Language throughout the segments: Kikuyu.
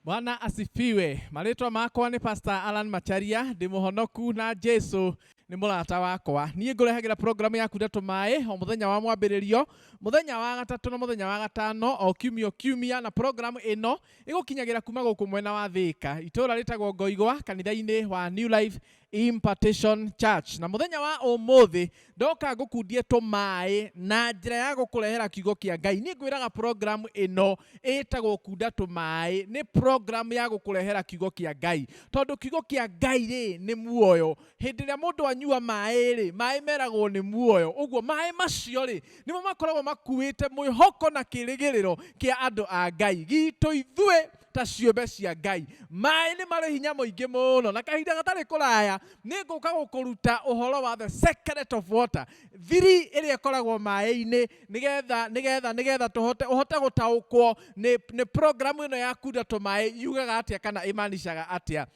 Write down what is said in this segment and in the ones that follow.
Bwana asifiwe. Marĩtwa makwa nĩ Pastor Alan Macharia, ndĩ mũhonoku na Jesu nĩ mũrata wakwa. Niĩ ngũrehagĩra programu yaku ndeto maĩ o mũthenya wa mwambĩrĩrio, mũthenya wa gatatũ na mũthenya wa gatano o kiumia o kiumia, na programu ĩno ĩgũkinyagĩra kuma gũkũ mwena wa Thĩka, itũra rĩtagwo Ngoigwa, kanitha-inĩ wa New Life Impartation Church na muthenya wa umuthi ndoka ngukundie tũmaĩ na njĩra ya gũkũrehera kiugo kĩa Ngai niĩ ngwĩraga program ĩno ĩtagwo kunda tũmaĩ nĩ program ya gũkũrehera kiugo kĩa Ngai tondũ kiugo kĩa Ngai rĩ nĩ muoyo hĩndĩ ĩrĩa mũndũ anyua maĩ rĩ maĩ meragwo nĩ muoyo ũguo maĩ macio rĩ nĩmo makoragwo makuĩte mwĩhoko na kĩrĩgĩrĩro kĩa andũ a Ngai gitũ ithuĩ ta ciũmbe cia Ngai. Maĩ nĩ marĩ hinya mũingĩ mũno, na kahinda gatarĩ kũraya nĩ ngũka gũkũruta ũhoro wa the secret of water, thiri ĩrĩa ĩkoragwo maĩ-inĩ, nĩgetha nĩgetha nĩgetha tũhote ũhote gũtaũkwo nĩ nĩ program ĩno ya kunda tũmaĩ yugaga atĩa kana ĩmanicaga atĩa.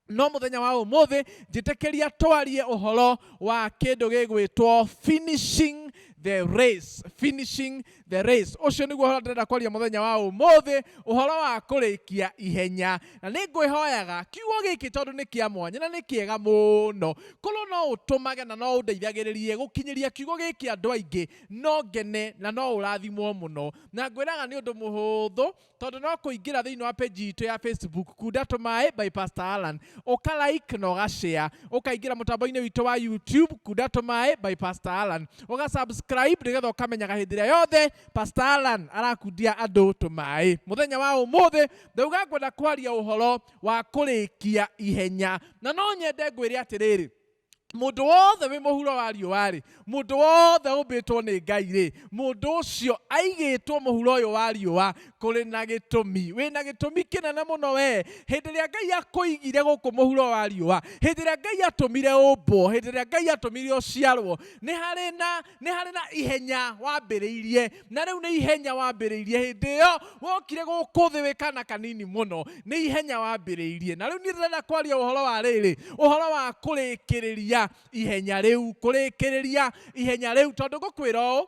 no mũthenya wa ũmũthĩ njĩtĩkĩria twarie ũhoro wa kĩndũ gĩgwĩtwo finishing the race finishing the race ũcio nĩguo ũhoro ndĩrenda kwaria mũthenya wa ũmũthĩ ũhoro wa kũrĩkia ihenya na nĩ ngwĩhoyaga kiugo gĩkĩ tondũ nĩ kĩa mwanya na nĩ kĩega mũno korwo no ũtũmage na no ũndeithagĩrĩrie gũkinyĩria kiugo gĩkĩ andũ aingĩ no ngene na no ũrathimwo mũno na ngwĩraga nĩ ũndũ mũhũthũ Tondũ no kũingĩra thĩinĩ wa page itũ ya Facebook, Kunda Tũmaĩ by Pastor Allan, ũka like na ũga share. Ũkaingĩra mũtambo-inĩ witũ wa YouTube, Kunda Tũmaĩ by Pastor Allan, ũga subscribe nĩgetha ũkamenyaga hĩndĩ ĩrĩa yothe Pastor Allan arakundia andũ tũmaĩ. Mũthenya wa ũmũthĩ, ndauga ngwenda kwaria ũhoro wa kũrĩkia ihenya. Na no nyende ngwĩre atĩrĩrĩ, Mũndũ wothe wĩ mũhuro wa riũa-rĩ, mũndũ wothe ũmbĩtwo nĩ Ngai-rĩ, mũndũ ũcio aigĩtwo mũhuro ũyũ wa riũa kũrĩ na gĩtũmi. Wĩ na gĩtũmi kĩnene mũno wee. Hĩndĩ ĩrĩa Ngai akũigire gũkũ mũhuro wa riũa, hĩndĩ ĩrĩa Ngai atũmire ũmbwo, hĩndĩ ĩrĩa Ngai atũmire ũciarwo, nĩ harĩ na nĩ harĩ na ihenya wambĩrĩirie na rĩu nĩ ihenya wambĩrĩirie hĩndĩ ĩyo wokire gũkũ thĩ wĩ kana kanini mũno nĩ ihenya wambĩrĩirie na rĩu niĩ ndĩrenda kwaria ũhoro wa rĩrĩ ũhoro wa kũrĩkĩrĩria ihenya rĩu kũrĩkĩrĩria ihenya rĩu tondũ ngũkwĩra ũũ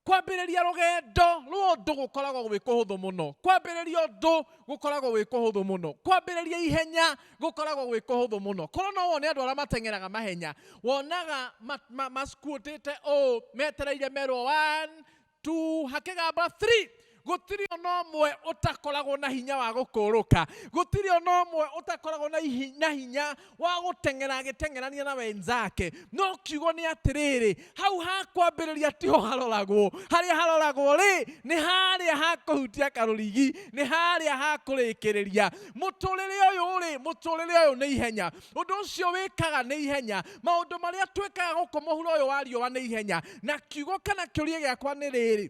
Kwambĩrĩria rũgendo rwa ũndũ gũkoragwo gwĩ kũhũthũ mũno. Kwambĩrĩria ũndũ gũkoragwo gwĩ kũhũthũ mũno. Kwambĩrĩria ihenya gũkoragwo gwĩ kũhũthũ mũno. Korwo no wone andũ arĩa mateng'eraga mahenya, wonaga ma, ma, ma squat-ĩte ũũ, metereire merwo one, two, hakĩgamba three. gũtirĩ ona ũmwe ũtakoragwo na hinya wa gũkũũrũka gũtirĩ ona ũmwe ũtakoragwo na ihi- na hinya wa gũteng'era agĩteng'erania na wenzake no kiugo nĩ atĩrĩrĩ hau ha kwambĩrĩria tiho haroragwo harĩa haroragwo rĩ nĩ harĩa ha kũhutia karũrigi nĩ harĩa ha kũrĩkĩrĩria mũtũrĩre ũyũ rĩ mũtũrĩre ũyũ nĩ ihenya ũndũ ũcio wĩkaga nĩ ihenya maũndũ marĩa twĩkaga gũkũ mũhuro ũyũ wa riũa nĩ ihenya na kiugo kana kĩũria gĩakwa nĩ rĩrĩ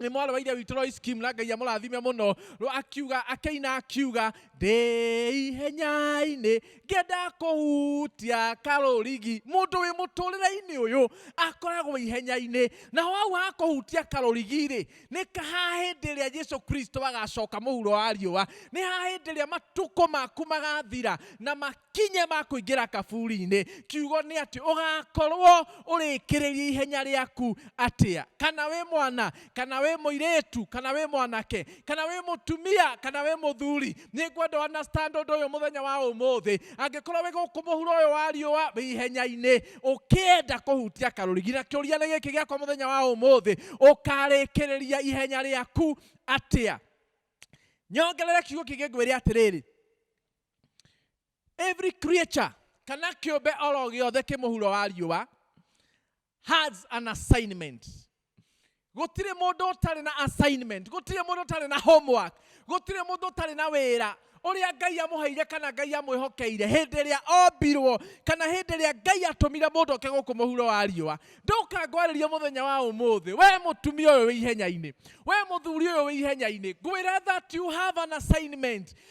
nä mwarä wa ithe witå Lois Kim na ngai amũrathime mũno Rwo akiuga akĩina akiuga ndĩ ihenya-inĩ ngĩenda kũhutia karũrigi mũndũ wĩ mũtũrĩre-inĩ ũyũ akoragwo ihenya-inĩ naho hau ha kũhutia karũrigi-rĩ nĩ ka- ha hĩndĩ ĩrĩa Jesu Kristo agacoka mũhuro wa riũa nĩ ha hĩndĩ ĩrĩa matukũ maku magathira na mak makinya ma kũingĩra kaburi-inĩ kiugo nĩ atĩ ũgakorwo ũrĩkĩrĩria ihenya rĩaku atĩa kana wĩ mwana kana wĩ mũirĩtu kana wĩ mwanake kana wĩ mũtumia kana wĩ mũthuri nĩ ngwenda understand ũndũ ũyũ mũthenya wa ũmũthĩ angĩkorwo wĩ gũkũ mũhuro ũyũ wa riũa wĩ ihenya-inĩ ũkĩenda kũhutia karũrigi na kĩũria nĩ gĩkĩ gĩakwa mũthenya wa ũmũthĩ ũkarĩkĩrĩria ihenya rĩaku atĩa nyongerere kiugo kĩngĩ ngwĩre atĩrĩrĩ every creature kana kĩũmbe oro gĩothe kĩ mũhuro wa riũa has an assignment gũtirĩ mũndũ ũtarĩ na assignment gũtirĩ mũndũ ũtarĩ na homework gũtirĩ mũndũ ũtarĩ na wĩra ũrĩa ngai amũheire kana ngai amwĩhokeire hĩndĩ ĩrĩa ombirwo kana hĩndĩ ĩrĩa ngai atũmire mũndũ oke gũkũ mũhuro wa riũa ndoka ngwarĩrie mũthenya wa ũmũthĩ we mũtumia ũyũ wĩ ihenya-inĩ we mũthuri ũyũ wĩ ihenya-inĩ ngwĩra that you have an assignment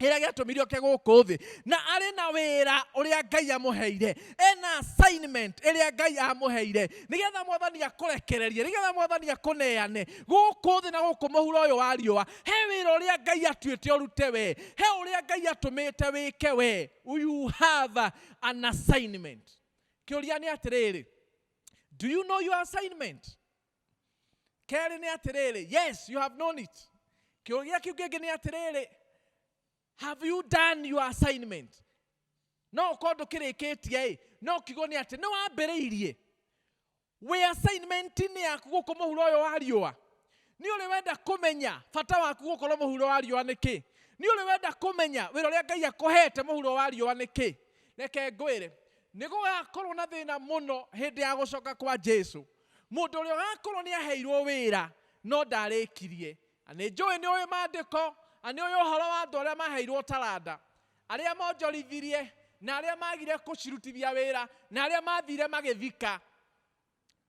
kĩrĩa gĩatũmire oke gũkũ thĩ na arĩ na wĩra ũrĩa ngai amũheire ena assignment ĩrĩa ngai amũheire nĩgetha mwathani akũrekererie nĩgetha mwathani akũneane gũkũ thĩ na gũkũ mũhuro ũyũ wa riũa he wĩra ũrĩa ngai atuĩte ũrute we he ũrĩa ngai atũmĩte wĩke we you have an assignment kĩũria nĩ atĩrĩrĩ do you know your assignment kerĩ nĩ atĩrĩrĩ yes you have known it kĩũria kĩu kĩngĩ nĩ atĩrĩrĩ have you done your assignment no ũkorwo ndũkĩrĩkĩtie ĩ no kiugo nĩ atĩ nĩ wambĩrĩirie wĩ assignment-inĩ yaku gũkũ mũhuro ũyũ wa riũa nĩ ũrĩ wenda kũmenya bata waku gũkorwo mũhuro wa riũa nĩ kĩ nĩ ũrĩ wenda kũmenya wĩra ũrĩa ngai akũhete mũhuro wa riũa nĩ kĩ reke ngwĩre nĩ gũgakorwo na thĩna mũno hĩndĩ ya gũcoka kwa jesu Mũndũ ũrĩa ũrakorwo nĩ aheirwo wĩra no ndarĩkirie. Na nĩ njũĩ nĩ ũĩ maandĩko, na nĩ ũĩ ũhoro wa andũ arĩa maheirwo taranda, arĩa monjorithirie, na arĩa magire gũcirutithia wĩra, na arĩa mathire magĩthika.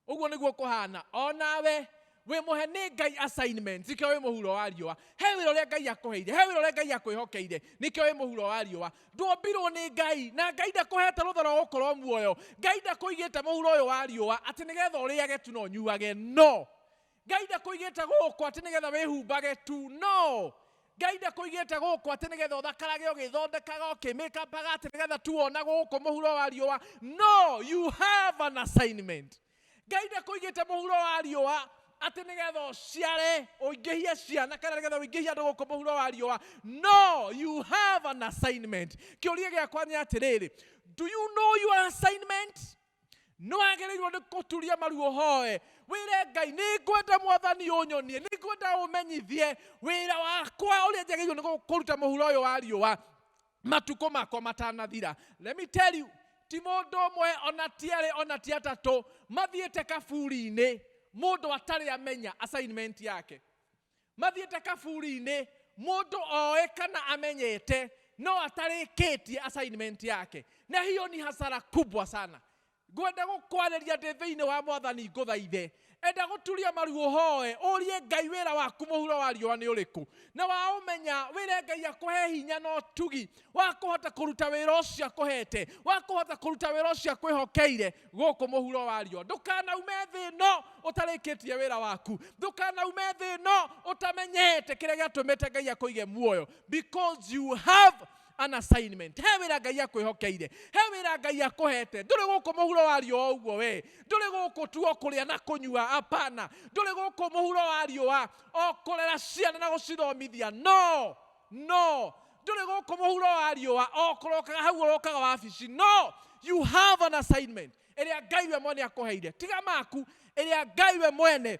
Ũguo nĩguo kũhana. O nawe wĩ mũhe nĩ Ngai assignment, nĩkĩo wĩ mũhuro wa riũa. He wĩra ũrĩa Ngai akũheire, he wĩra ũrĩa Ngai akwĩhokeire, nĩkĩo wĩ mũhuro wa riũa. ndwombirwo nĩ ngai na ngai ndakũhete rũtha rwa gũkorwo muoyo ngai ndakũigĩte mũhuro ũyũ wa riũa atĩ nĩgetha ũrĩage tu na ũnyuage no ngai ndakũigĩte gũkũ atĩ nĩgetha wĩhumbage tu no ngai ndakũigĩte gũkũ atĩ nĩgetha ũthakarage ũgĩthondekaga ũkĩmĩkabaga atĩ nĩgetha tu wona gũkũ mũhuro wa riũa no you have an assignment ngai ndakũigĩte mũhuro wa riũa atĩ nĩgetha ũciare ũingĩhie ciana kana nĩgetha ũingĩhie andũ gũkũ mũhuro wa riũa no you have an assignment kĩũria gĩakwa nĩ atĩrĩrĩ do you know your assignment nĩ wagĩrĩirwo nĩ kũturia maru ũhoe wĩre ngai nĩ ngwenda mwathani ũnyonie nĩ ngwenda ũmenyithie wĩra wakwa ũrĩa njagĩrĩirwo nĩ kũruta mũhuro ũyũ wa riũa matukũ makwa matanathira let me tell you ti mũndũ ũmwe ona ti erĩ ona ti atatũ mathiĩte kaburi-inĩ mũndũ atarĩ amenya assignment yake mathiĩte kaburi-inĩ mũndũ oĩ kana amenyete no atarĩkĩtie assignment yake na hiyo ni hasara kubwa sana Ngwenda gũkwarĩria ndĩ thĩinĩ wa Mwathani ngũthaithe. Enda gũturia maru ũhoe, ũrie Ngai wĩra waku mũhuro wa riũa nĩ ũrĩkũ. Na waũmenya, wĩre Ngai akũhe hinya na ũtugi wa kũhota kũruta wĩra ũcio akũhete, wa kũhota kũruta wĩra ũcio akwĩhokeire gũkũ mũhuro wa riũa. Ndũkanaume thĩ ĩno ũtarĩkĩtie wĩra waku. Ndũkanaume thĩ ĩno ũtamenyete kĩrĩa gĩatũmĩte Ngai akũige muoyo. Because you have an assignment he wira ngai akwĩhokeire he wira ngai akũhete ndũrĩ gũkũ mũhuro wa riũa o ũguo we ndũrĩ gũkũ tu o kũrĩa na kũnyua apana ndũrĩ gũkũ mũhuro wa riũa o kũrera ciana na gũcithomithia no no ndũrĩ gũkũ mũhuro wa riũa o kũrokaga hau ũrokaga wabici no you have an assignment ĩrĩa ngai we mwene akũheire tiga maku ĩrĩa ngai we mwene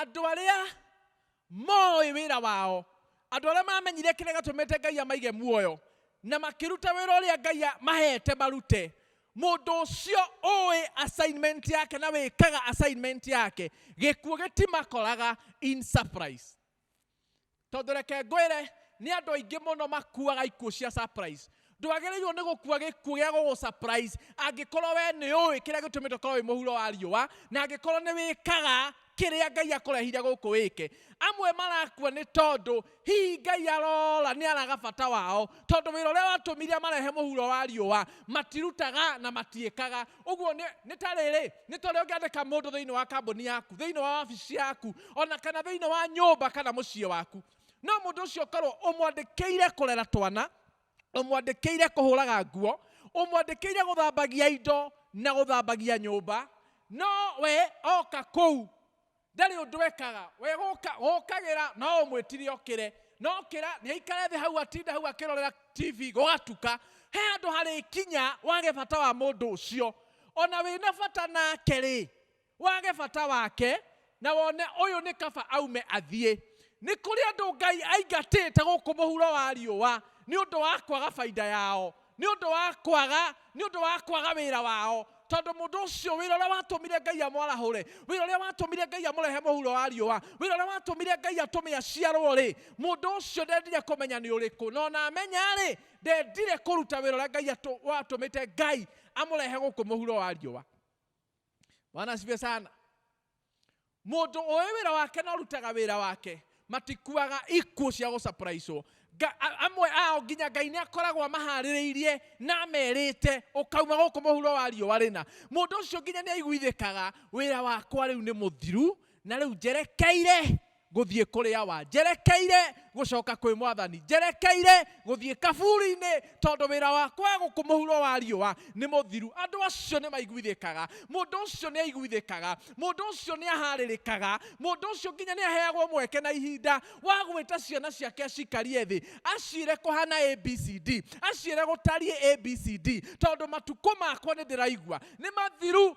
Andũ arĩa mooĩ wĩra wao, andũ arĩa maamenyire kĩrĩa gĩatũmĩte Ngai amaige muoyo, na makĩruta wĩra ũrĩa Ngai amaheete marute, mũndũ ũcio ũũĩ assignment yake na wĩkaga assignment yake, gĩkuũ gĩtimakoraga in surprise. Tondũ reke ngwĩre, nĩ andũ aingĩ mũno makuaga ikuũ cia surprise. Ndwagĩrĩirwo nĩ gũkua gĩkuũ gĩa gũgũ surprise angĩkorwo we nĩ ũĩ kĩrĩa gĩtũmĩte ũkorwo wĩ mũhuro wa riũa na angĩkorwo nĩ wĩkaga kĩrĩa Ngai akũrehire gũkũ wĩke. Amwe marakua nĩ tondũ hihi Ngai arora nĩ araga bata wao tondũ wĩra ũrĩa watũmire amarehe mũhuro wa riũa matirutaga na matiĩkaga. ũguo nĩ nĩ ta rĩrĩ nĩ ta ũrĩa ũngĩandĩka mũndũ thĩinĩ wa kambuni yaku thĩinĩ wa wabici yaku ona kana thĩinĩ wa nyũmba kana mũciĩ waku no mũndũ ũcio ũkorwo ũmwandĩkĩire kũrera twana ũmwandĩkĩire kũhũraga nguo ũmwandĩkĩire gũthambagia indo na gũthambagia nyũmba no we oka kũu ndarĩ ũndũ ekaga we gũka- gũkagĩra no ũmwĩtire okĩre no kĩra nĩ aikare thĩ hau atinde hau akĩrorera tv gũgatuka he handũ harĩ kinya wage bata wa mũndũ ũcio ona wĩna bata nake rĩ wage bata wake na wone ũyũ nĩ kaba aume athiĩ nĩ kũrĩ andũ ngai aingatĩte gũkũ mũhuro wa riũa nĩ ũndũ wa kwaga baida yao nĩ ũndũ wa kwaga nĩ ũndũ wa kwaga wĩra wao tondũ mũndũ ũcio wĩra ũrĩa watũmire ngai amwarahũre wĩra ũrĩa watũmire ngai amũrehe mũhuro wa riũa wĩra ũrĩa watũmire ngai atũme aciarwo rĩ mũndũ ũcio ndendire kũmenya nĩ ũrĩkũ no na amenya rĩ ndendire kũruta wĩra ũrĩa ngai atũ- watũmĩte ngai amũrehe gũkũ mũhuro wa riũa Bwana asifiwe sana. Mũndũ ũĩ wĩra wake na ũrutaga wĩra wake matikuaga ikuũ cia gũcapraicwo. Nga- a- Amwe ao nginya Ngai nĩ akoragwo amaharĩrĩirie na amerĩte ũkauma gũkũ mũhuro wa riũa rĩna. Mũndũ ũcio nginya nĩ aiguithĩkaga wĩra wakwa rĩu nĩ mũthiru na rĩu njerekeire Ngũthiĩ kũrĩ awa? Njerekeire gũcoka kwĩ Mwathani? Njerekeire gũthiĩ kaburi-inĩ tondũ wĩra wakwa gũkũ mũhuro wa riũa nĩ mũthiru? Andũ acio nĩ maiguithĩkaga. Mũndũ ũcio nĩ aiguithĩkaga. Mũndũ ũcio nĩ ahaarĩrĩkaga. Mũndũ ũcio nginya nĩ aheagwo mweke na ihinda wa gwĩta ciana ciake cikarie thĩ, aciĩre kũhana A, B, C, D, aciĩre gũtariĩ A, B, C, D, tondũ matukũ makwa nĩ ndĩraigua nĩ mathiru.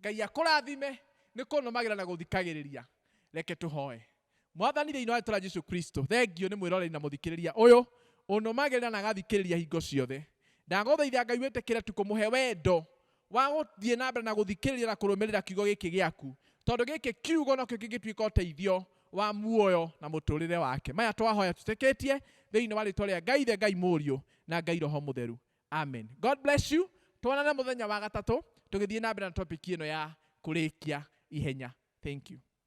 Ngai akũrathime nĩ kũnũmagĩra na gũthikagĩrĩria. Reke tũhoe. Mwathani thĩinĩ wa rĩtwa Jesu Kristo, thengio nĩ mwĩroreri na mũthikĩrĩria ũyũ ũnũmagĩrĩra na agathikĩrĩria hingo ciothe. Ndagũthaitha Ngai wĩtĩkĩre tu kũmũhe wendo wa gũthiĩ na mbere na gũthikĩrĩria na kũrũmĩrĩra kiugo gĩkĩ gĩaku, tondũ gĩkĩ kiugo nokĩo kĩngĩtuĩka ũteithio wa muoyo na mũtũrĩre wake. Maya twahoya tũtĩkĩtie thĩinĩ wa rĩtwa rĩa Ngai Ithe, Ngai Mũriũ na Ngai Roho Mũtheru. amen god bless you twanane mũthenya wa gatatũ tũgĩthiĩ na mbere na topic ĩno ya kũrĩkia ihenya thank you